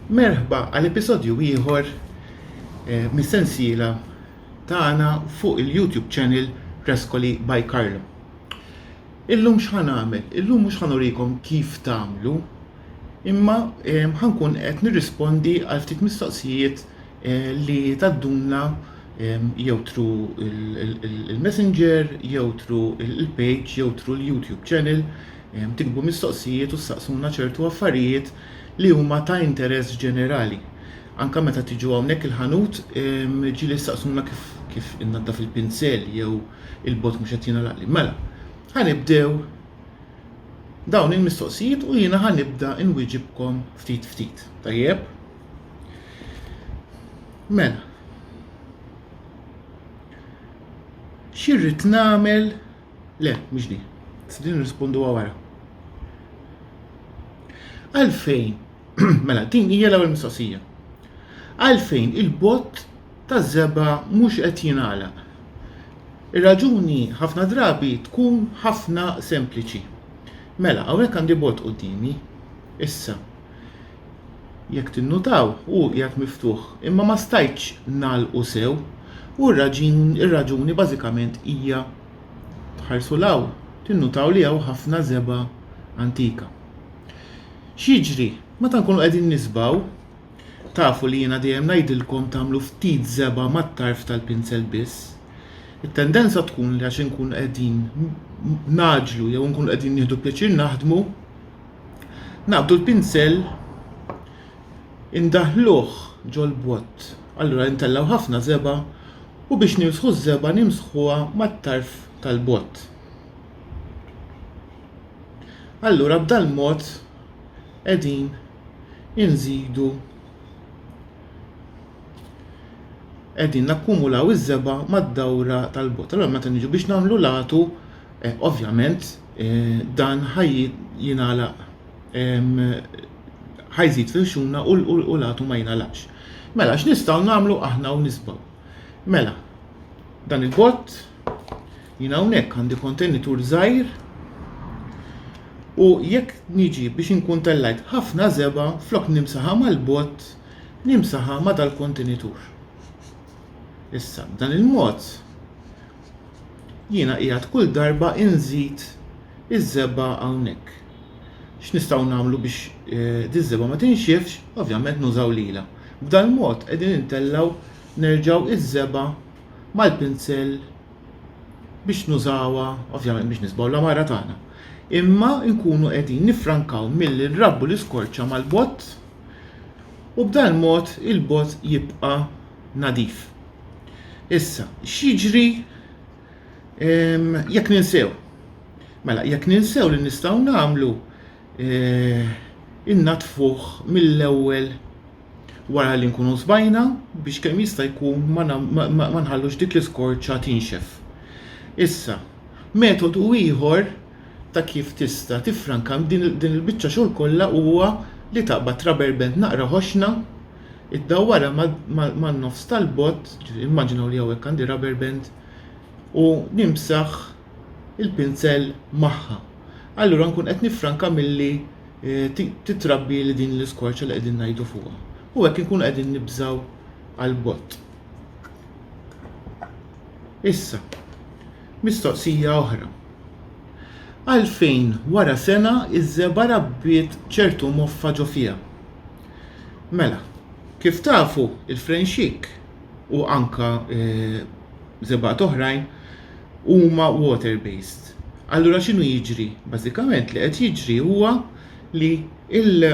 Merħba għal episodju ieħor eh, mis-sensiela tagħna fuq il-YouTube channel Preskoli by Carlo. Illum x'ħan għamel? Illum mhux ħan urikom kif tagħmlu Imma ħa nkun qed nirrispondi għal ftit mistoqsijiet li tadduna jew tru il-messenger, jew tru il-page, jew tru l-YouTube channel, tikbu mistoqsijiet u saqsuna ċertu affarijiet li huma ta' interess ġenerali. Anka meta tiġu hawnhekk il-ħanut ġili saqsuna kif kif innaddaf il-pinsel jew il-bot mhux qed jingħalaqli. Mela, ħanibdew dawn il-mistoqsijiet u jiena ħa nibda nwieġibkom ftit ftit. Tajjeb? Mela. Xirrid nagħmel le, mhux din. Sidin nirrispondu wara. Għalfejn, mela din hija l-ewwel mistoqsija. Għalfejn il-bot taż-żebgħa mhux qed jingħalaq. Ir-raġuni ħafna drabi tkun ħafna sempliċi. Mela, hawnhekk għandi bot quddiemi. Issa, jekk tinnutaw, hu qiegħed miftuħ, imma ma stajtx ngħalqu sew, u r-raġuni bażikament hija, tħarsu 'l hawn, tinnutaw li hawn ħafna żebgħa antika. X'jiġri? Meta nkunu qegħdin niżbgħu, Tafu li jiena dejjem ngħidilkom tagħmlu ftit żebgħa mat-tarf tal-pinzel biss. It-tendenza tkun li għax inkunu qegħdin nagħġlu jew inkunu qegħdin nieħdu pjaċir naħdmu, naqbdu l-pinzel indaħħluh ġol-bott, allura intellgħu ħafna żebgħa u biex nimsħu ż-żebgħa nimsħuha mat-tarf tal-bott. Allura b'dal-mod qegħdin inżidu qegħdin nakkumulaw iż-żebgħa mad-dawra tal-bogħod. Allura meta niġu biex nagħmlu latu, eh, ovvjament eh, dan ħaj jingħalaq ħajżid fil-xuna u latu ma jingħalaqx. Mela x'nistgħu nagħmlu aħna u nisbaw. Mela, dan il-bott Jien hawnhekk għandi kontenitur żgħir u jekk niġi biex inkun tellajt ħafna żebgħa flok nimsaħha mal-bott nimsaħha ma' dal-kontenitur. Issa b'dan il-mod jiena qiegħed kull darba inżid iż-żebgħa hawnhekk. X'nistgħu nagħmlu biex eh, diż-żebgħa ma tinxifx? Ovvjament nużaw lila. B'dal-mod qegħdin intellgħu nerġgħu iż-żebgħa mal-pinsell biex nużawha ovvjament biex nisbaw l-għamara tagħna. Imma nkunu qegħdin nifrankaw milli nrabbu l-iskorċa mal-bott u b'dan mod il-bott jibqa' nadif. Issa, x'jiġri ehm, jekk ninsew? Mela, jekk ninsew li nistgħu nagħmlu eh, innatfuh mill-ewwel wara li nkunu sbajna biex kemm jista' jkun ma nħallux dik l-iskorċa tinxef. Issa, metodu ieħor ta' kif tista' tiffranka din il-biċċa xogħol kollha huwa li taqbad traberbent naqra ħoxna, iddawwarha man-nofs tal-bott, immaġinaw li hawnhekk għandi raberbent, u nimsaħ il-pinzell magħha. Allura nkun qed niffranka milli eh, titrabbi li din l-iskorċa li qegħdin ngħidu fuqha. U hekk inkunu qegħdin nibżgħu għal bott. Issa, mistoqsija oħra. Għalfejn wara sena iż-żeba rabbiet ċertu moffa ġo fiha? Mela, kif tafu il-frenxik u anke żebgħat oħrajn huma water based. Allura x'inhu jiġri? Bażikament li qed jiġri huwa li il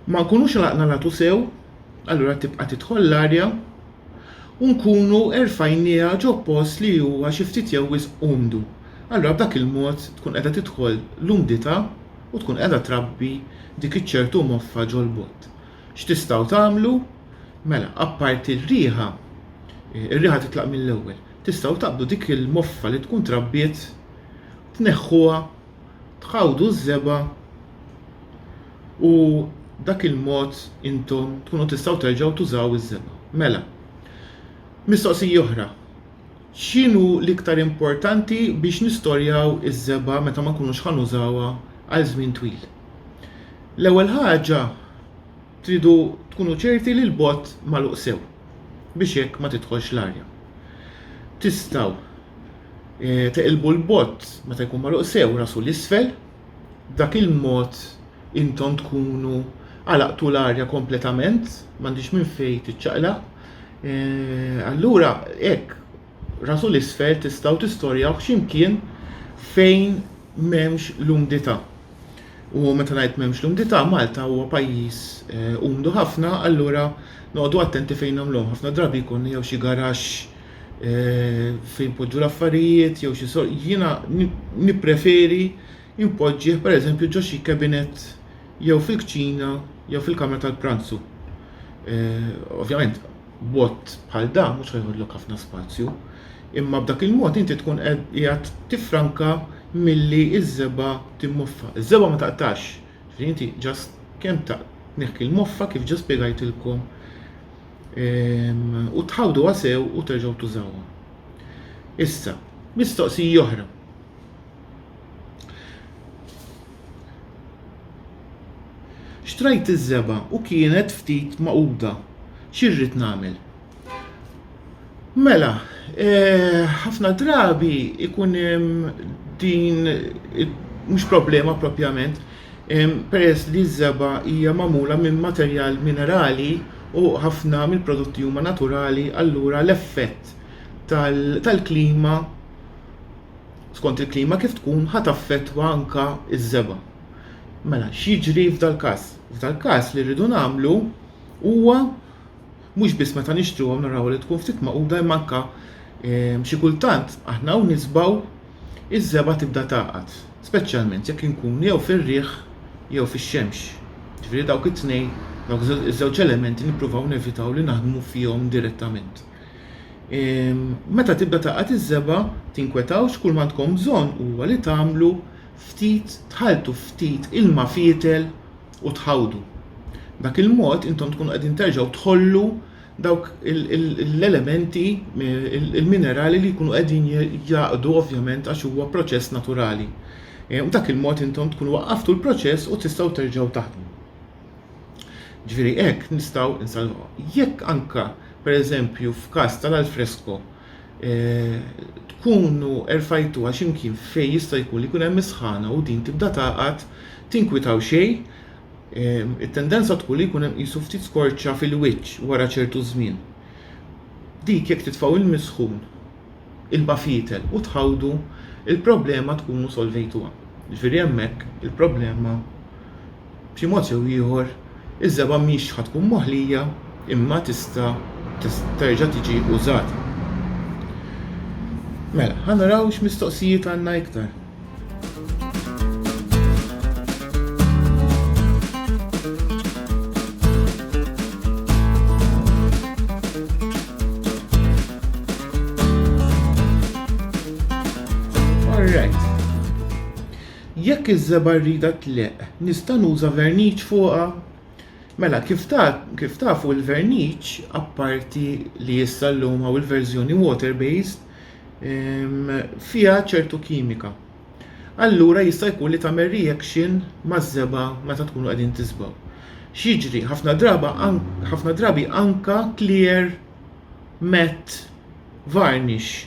ma nkunux laqna latu sew, allura tibqa' tidħol l-arja u nkunu erfajnieha ġo post li huwa xi ftit jew wisq umdu. Allura b'dak il-mod tkun qiegħda tidħol l-umdità u tkun qiegħda trabbi dik iċ-ċertu moffa ġol-bott. X'tistgħu tagħmlu? Mela, apparti r-riħa, ir-riħa titlaq mill-ewwel, tistgħu taqbdu dik il-moffa li tkun trabbiet, tneħħuha, tħawdu ż-żebgħa u dak il-mod intom tkunu tistgħu terġgħu tużaw iż-żebgħa. Mela, mistoqsija oħra, x'inhu l-iktar importanti biex nistorjaw iż-żebgħa meta ma nkunux ħa nużawha għal żmien twil? L-ewwel ħaġa tridu tkunu ċerti li l-bot magħluq sew biex hekk ma tidħolx l-arja. Tistgħu eh, teqilbu l-bot meta jkun magħluq sew rasu l-isfel, dak il-mod intom tkunu għalaqtu l-arja kompletament, m'għandix minn fejn tiċċaqla. Eh, allura hekk Rasu l-isfel tistgħu tistorjawh xi mkien fejn m'hemmx l-umdità. U meta ngħid m'hemmx l-umdità, Malta huwa pajjiż eh, umdu ħafna, allura noqogħdu attenti fejn nagħmluhom. Ħafna drabi jkun jew xi garaxx eh, fejn poġġu l-affarijiet, jew xi sor... Jiena nippreferi impoġġih pereżempju ġo xi kabinet jew fil-kċina jew fil-kamra tal-pranzu. Eh, ovvjament, B'mod bħal dan mhux ħajħollok ħafna spazju, imma b'dak il-mod inti tkun qiegħed tiffranka milli ż-żebgħa timmoffa. Iż-żebgħa ma taqtax, ġifieri inti ġast kemm tneħħi l-moffa kif ġa spjegajtilkom ehm, u tħawduha sew u terġgħu tużawha. Issa, mistoqsija oħra. Xtrajt iż-żebgħa u kienet ftit magħquda. Xi rrid nagħmel? Mela, ħafna drabi ikun hemm din mhux problema propjament, peress li ż-żebgħa hija magħmula minn materjal minerali u ħafna mill-prodotti huma naturali, allura l-effett tal-klima skont il-klima kif tkun ħa taffettwa anke ż-żebgħa. Mela x'jiġri f'dal-każ? F'dal-każ li rridu nagħmlu huwa mhux biss meta nixtruhom naraw li tkun ftit maquda imma anke ehm, xi kultant aħna hawn nisbaw iż-żebgħa tibda tagħqad, speċjalment jekk inkunu jew fir-riħ jew fix-xemx. Ġifieri dawk it-tnejn, dawk iż-żewġ elementi nippruvaw nevitaw li naħdmu fihom direttament. Meta tibda taqgħad iż-żebgħa, tinkwetawx, kull m'għandkom bżonn huwa li tagħmlu ftit tħalltu ftit ilma fietel u tħawdu. B'dak il-mod intom tkunu qegħdin terġgħu tħollu dawk l-elementi, il-minerali li jkunu qegħdin jaqdu ovvjament għax huwa proċess naturali. B'dak il-mod intom tkunu waqqaftu l-proċess u tistgħu terġgħu taħdmu. Ġifieri hekk nistgħu nsalvaw. Jekk anka, pereżempju, f'każ tal-alfresko tkunu erfajtuha x'imkien fejn jista' jkun li jkun hemm is-sħana u din tibda tagħqad, tinkwitaw xejn, it-tendenza tkun li jkun hemm qisu ftit skorċa fil-wiċċ wara ċertu żmien. Dik jekk titfgħu l-misħun il-bafietel u tħawdu, il-problema tkunu solvejtuha. Jiġifieri hemmhekk il-problema b'xi mod jew ieħor iż-żebgħa mhix ħa tkun moħlija imma tista' terġa' tiġi użata. Mela, ħa naraw x'mistoqsijiet għandna iktar. Jekk iż-żeba rrida tleq, nista' nuża verniċ fuqha? Mela, kif kif tafu l-verniċ, apparti li issa llum hawn il-verżjoni water-based, fiha ċertu kimika. Allura jista' jkun li tagħmel reaction maż-żebgħa meta tkunu qegħdin tiżbgħu. X'jiġri? Ħafna draba ħafna drabi anka clear matte varnish.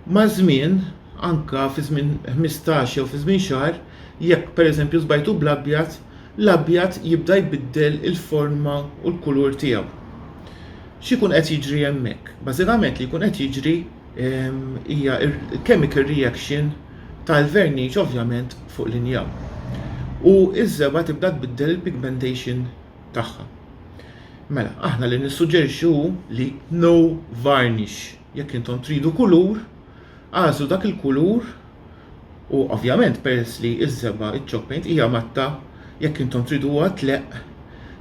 Maż-żmien, anka fi żmien 15 jew fi żmien xahar, jekk pereżempju żbajtu bl-abjad, l-abjad jibda jbiddel il-forma u l-kulur tiegħu. X'ikun qed jiġri hemmhekk? Bażikament li jkun qed jiġri ehm, hija chemical reaction tal-verniċ ovvjament fuq l-injam. U iż-żebgħa tibda tbiddel il-pigmentation tagħha. Mela, aħna li nissuġġerixxu li no varnish. Jekk intom tridu kulur, għażlu dak il-kulur U ovvjament peress li ż-żebgħa ċ-chopping hija matta jekk intom triduha tleqq,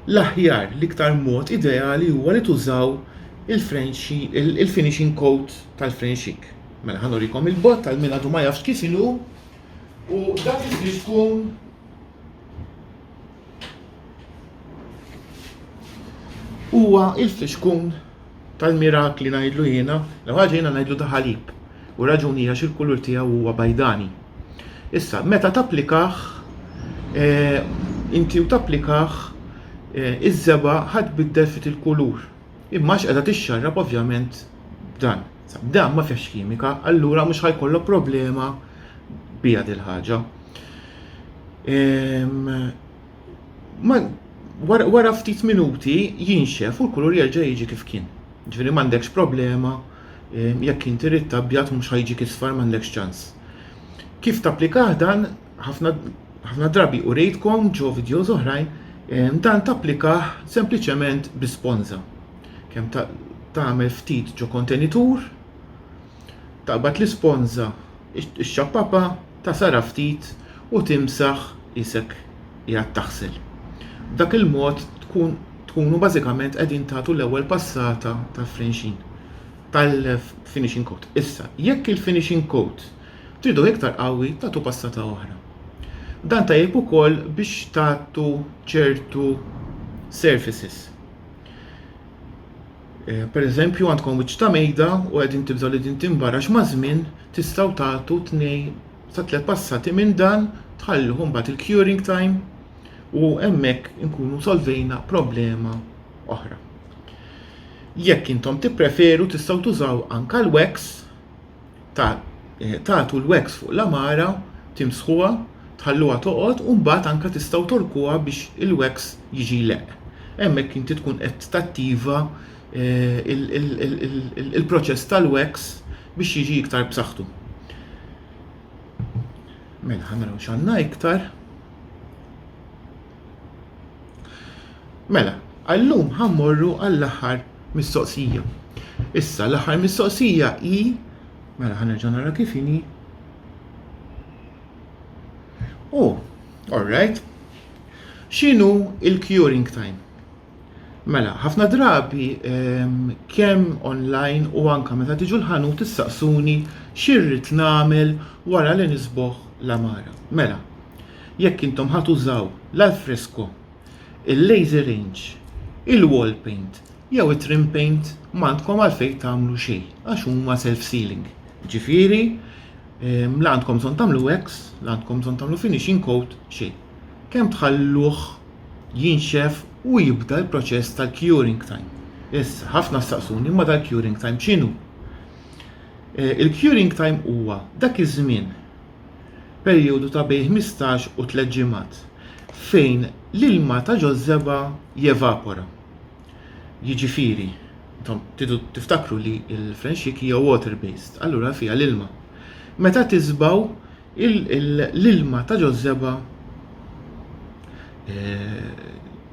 l-aħjar, l-iktar mod ideali huwa li tużaw il-frenxi, il-finishing coat tal-frenxik. Mela ħa nurikom il-bott tal min għadu ma jafx kif inhu u dak li tkun Huwa il-fixkun tal-mirakli ngħidlu jiena, l ħaġa jiena ngħidlu daħalib u raġuni għax il-kulur tiegħu huwa bajdani. Issa, meta tapplikaħ, eh, inti u tapplikaħ eh, iż-żeba ħad biddel fit il-kulur. Imma x'qeda tixxarrab ovvjament dan. Dan ma fiex kimika, allura mhux ħajkollok problema bija dil-ħaġa. Ehm, wara ftit minuti jinxef u l-kulur jerġa' jiġi kif kien. Ġifieri m'għandekx problema eh, jekk inti rid tabjat mhux ħajġi kisfar m'għandekx ċans. Kif tapplikah dan ħafna drabi u rejtkom ġo videos oħrajn, eh, dan tapplikah sempliċement bi sponza. Kemm tagħmel ftit ġo kontenitur, Taqbad l-isponża, ixxappapha, tagħsarha ftit u timsaħ qisek qiegħed taħsel. B'dak il-mod tkun tkunu bażikament qegħdin tagħtu l-ewwel passata ta' frinxin tal-finishing coat. Issa, jekk il-finishing coat tridu iktar qawwi tagħtu passata oħra. Dan tajjeb ukoll biex tagħtu ċertu surfaces. Pereżempju, għandkom wiċċ ta' mejda u qegħdin tibżgħu li din tinbar għax maż-żmien tistgħu tagħtu tnej sa tliet passati minn dan tħalluh imbagħad il-curing time u hemmhekk inkunu solvejna problema oħra. Jekk intom tippreferu tistgħu tużaw anke l-wax tagħtu l-wax fuq l-għamara, timsħuha, tħalluha toqgħod u mbagħad anke tistgħu togħrkuha biex il-wax jiġi jleqq. Hemmhekk inti tkun qed tattiva il-proċess tal-wax biex jiġi iktar b'saħħtu. Mela ħanaraw x'għandna iktar. Mela, għallum ħammorru għall-aħħar mistoqsija. Issa, l-aħħar mistoqsija hi, mela ħanerġa' nara kif inhi. Oh, all right. X'inhu il-curing time? Mela, ħafna drabi ehm, kemm online u anke meta tiġu l-ħanut issaqsuni x'irrid nagħmel wara li nisboħ l-għamara. Mela, jekk intom ħa tużaw l-alfresco, il-laser range, il-wall paint jew it-trim paint m'għandkom għalfejn tagħmlu xejn għax huma self sealing. Ġifieri, ehm, la għandkom bżonn tagħmlu wax, la għandkom bżonn tagħmlu finishing coat, xejn. kemm tħalluh jinxef u jibda l-proċess tal-curing time. Issa, ħafna staqsuni imma dal-curing time x'inhu? E, il-curing time huwa dak iż-żmien perjodu ta' bejn 15 u 3 ġimgħat fejn l-ilma ta' ġożżeba jevapora. Jiġifieri, intom tidu tiftakru li l-frenxik hija water based, allura fiha l-ilma. Meta tiżbaw l-ilma ta' ġożżeba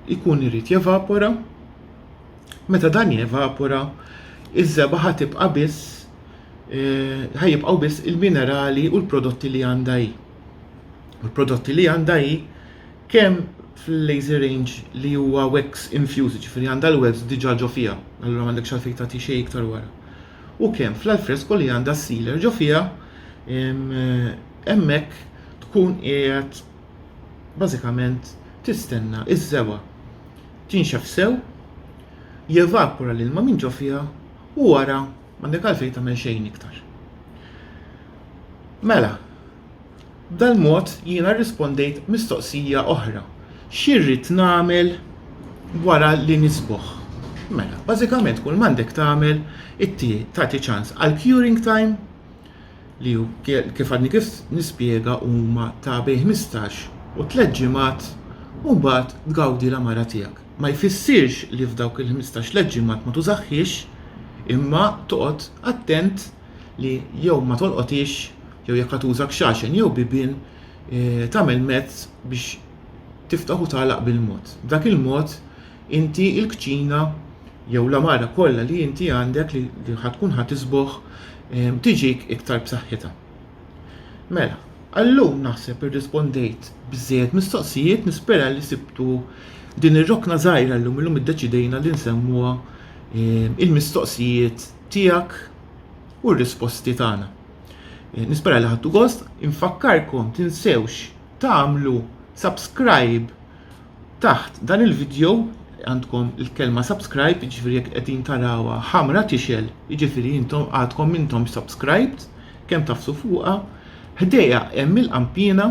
jkun irid jevapora, meta dan jevapora, iż-żebgħa ħa tibqa' biss ħa jibqgħu biss il-minerali u l-prodotti li għandha hi. U l-prodotti li għandha hi kemm fil-lazy range li huwa wax infused, ġifieri għandha l-wax diġà ġo fiha, allura m'għandekx għalfejn tagħti xejn iktar wara. u kemm fl-alfresko li għandha s-sealer ġo fiha hemmhekk tkun qiegħed bażikament tistenna ż-żewgħa tinxef sew, jevapora l-ilma minn ġo fiha u wara m'għandek għalfejn tagħmel xejn iktar. Mela, B'dal-mod jiena rrispondejt mistoqsija oħra, x'irrid nagħmel wara li nisboh? Mela, bażikament kull m'għandek tagħmel tagħti ċans għal curing time li kif għadni kif nispjega huma ta' bejn 15 u tliet ġimgħat u mbagħad tgawdi l-għamara tiegħek. Ma jfissirx li f'dawk il-ħmistax tliet ġimgħat ma tużahhiex imma toqgħod attent li jew ma tolqothiex jew jekk qed tuża kxaxen jew bibien tagħmel mezz biex tiftaħ u tagħlaq bil-mod. B'dak il-mod inti l-kċina jew l-għamara kollha li inti għandek li ħad tkun ħa tisboħ ehm, tiġik iktar b'saħħitha. Mela, għallum naħseb irrispondejt bżejjed mistoqsijiet nispera li sibtu din ir-rokna żgħira llum illum iddeċidejna li nsemmuha ehm, il-mistoqsijiet tiegħek u r-risposti tagħna. Eh, nispera li ħattu gost, infakkarkom tinsewx tagħmlu subscribe taħt dan il-video għandkom il-kelma subscribe, ġifiri jek qegħdin tarawa ħamra tixel, ġifiri intom għadkom intom subscribed, kemm tafsu fuqa, ħdeja hemm il-qampina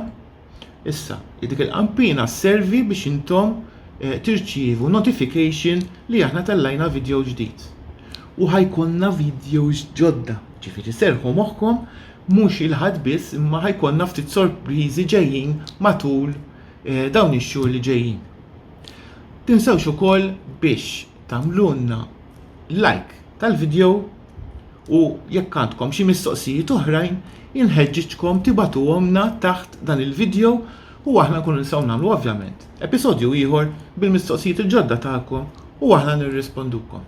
Issa, dik il-kampina servi biex intom eh, tirċievu notification li aħna tellajna video ġdid. U ħajkonna videos ġodda, ġifiri serħu moħħkom mhux il-ħadd biss imma ħajkonna ftit sorpriżi ġejjin matul eh, dawn ix-xhur li ġejjin. Tinsewx ukoll biex tagħmlulna like tal-video U jekk għandkom xi mistoqsijiet oħrajn, inħeġġiġkom tibatuhomna taħt dan il-video u aħna nkunu nistgħu nagħmlu ovvjament episodju ieħor bil-mistoqsijiet il-ġodda tagħkom u aħna nirrispondukom.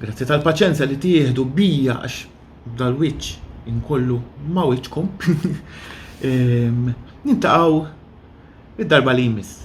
Grazzi tal-paċenza li tieħdu bija għax dal-wiċċ inkollu ma' wiċċkom. Ehm, nintaqgħu id-darba li jmiss.